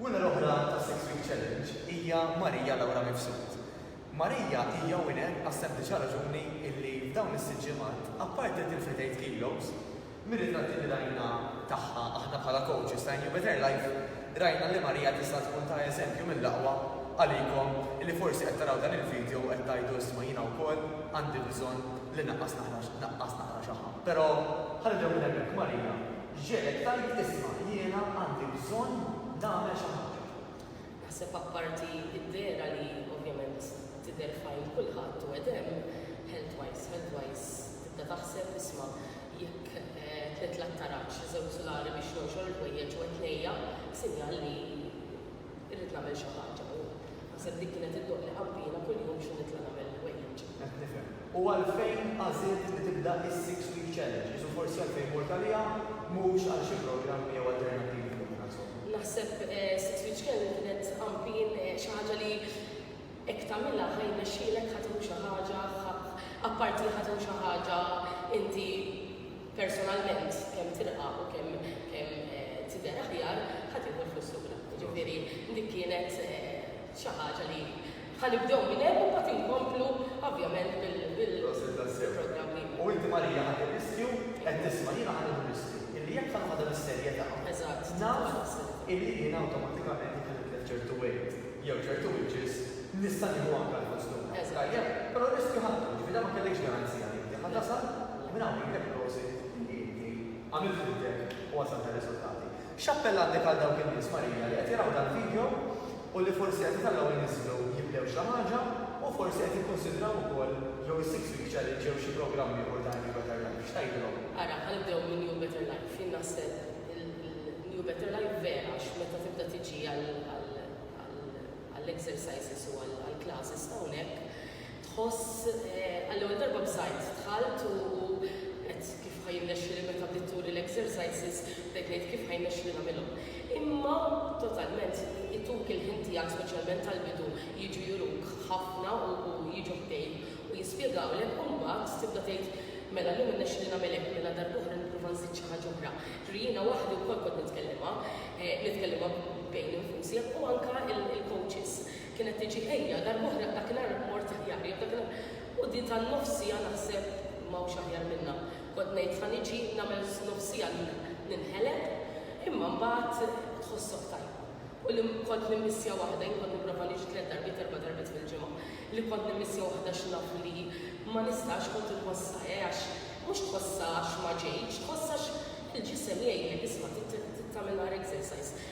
Winner oħra tas-Six Week Challenge hija Maria Laura Mifsud. Maria hija winner għas-sempliċi raġuni illi f'dawn is-sitt ġimgħat, apparti li tilfet għid kilos, mir-ritratti li rajna tagħha aħna bħala coaches ta' New Better Life rajna li Maria tista' tkun ta' eżempju mill-aqwa għalikom illi forsi qed taraw dan il-video u qed tgħidu isma' jiena wkoll għandi bżonn li naqqas naqqas naqra xi ħadd. Però ħa nibdew minn hemmhekk, Maria Ġegħlet tgħid, Isma', jiena għandi bżonn nagħmel xi ħaġa. Naħseb apparti d-dehra li ovvjament tidher f'għajn kulħadd u qed hemm, health-wise, health-wise tibda taħseb, isma', jekk tlitlaq taraġ, żewġ sulari biex nonxor il-ħwejjeġ u qed ngħejja, sinjal li. Irrid nagħmel xi ħaġa u. Naħseb dik kienet iddoqqli qampina kuljum x'inhu nitla' nagħmel il-ħwejjeġ. Qed nifhem. U għalfejn għażilt li tibda is-Six Week Challenge? Qisu forsi għalfejn mort għaliha mhux għal xi programmi jew alternattivi oħra, insomma. Naħseb Six Week Challenge kienet qampin xi ħaġa li hekk tagħmilha ħa jirnexxielek, ħa tieħu xi ħaġa, ħa. Apparti li ħa tieħu xi ħaġa inti personalment kemm tilqa' u kemm kemm tidher aħjar, ħa tieħu l-flus lura. Jiġifieri dik kienet xi ħaġa li ħa nibdew minn hemm u mbagħad inkomplu ovvjament bil Prosit tassew. programm ieħor. U inti Marija ħadt ir-riskju, qed tisma' jiena ħa nieħu r-riskju illi jekk ħa noħodha bis-serjetà, Eżatt. naf illi jiena awtomatikament jekk ħa nitlef ċertu weight jew ċertu inches nista' nieħu anke l-flus lura. Eżatt. Tajjeb? Però r-riskju ħadtu, jiġifieri dan ma kellekx garanzija li inti ħa tasal. U minn hawn ngħidlek prosit li inti għamilt ħidmtek u wasalt għar-riżultati. X'appell għandek għal dawk in-nies, Marija, li qed jaraw dal-video u li forsi qed itellgħu jniżżlu jibdew xi ħaġa u forsi qed jikkunsidraw ukoll jew is-Six Week Challenge jew xi programm ieħor ta' New Better Life, x'tgħidilhom? Ara, ħanibdew minn New Better Life. Jien naħseb il-New Better Life vera għax meta tibda tiġi għall-exercises u għall-classes ta' hawnhekk, tħoss għall-ewwel darba b'żgħid. Dħalt u għedt kif ħa jirnexxieli meta bdiet turi l-exercises bdejt ngħid kif ħa jirnexxieli nagħmilhom. Imma totalment ituk il-ħin tiegħek speċjalment tal-bidu jiġu juruk ħafna u jiġu ħdejk u jispjegawlek u mbagħad tibda tgħid mela llum irnexxieli nagħmel hekk mela darb'oħra nipprova nżid xi ħaġa oħra. Ġifieri jiena waħdi wkoll kont nitkellimha, nitkellimha bejni nfusih u anke il-coaches. Kienet tiġi ejja, darb'oħra dakinhar mort aħjar, jew dakinhar u di tan-nofsija naħseb m'hawnx aħjar minnha. Kont ngħid ħa niġi nagħmel nofsija ninħeleb, imma mbagħad tħossok tajjeb. U li kont nimmissja waħda, jien kont nipprova niġi tliet darbiet, erba' darbiet fil-ġimgħa, li kont nimmissja waħda xi naf li ma nistax kont inħossha eh għax mhux tħossha għax ma ġejtx, tħossha għax il-ġisem jgħidlek isma' trid tagħmel naqra exercise.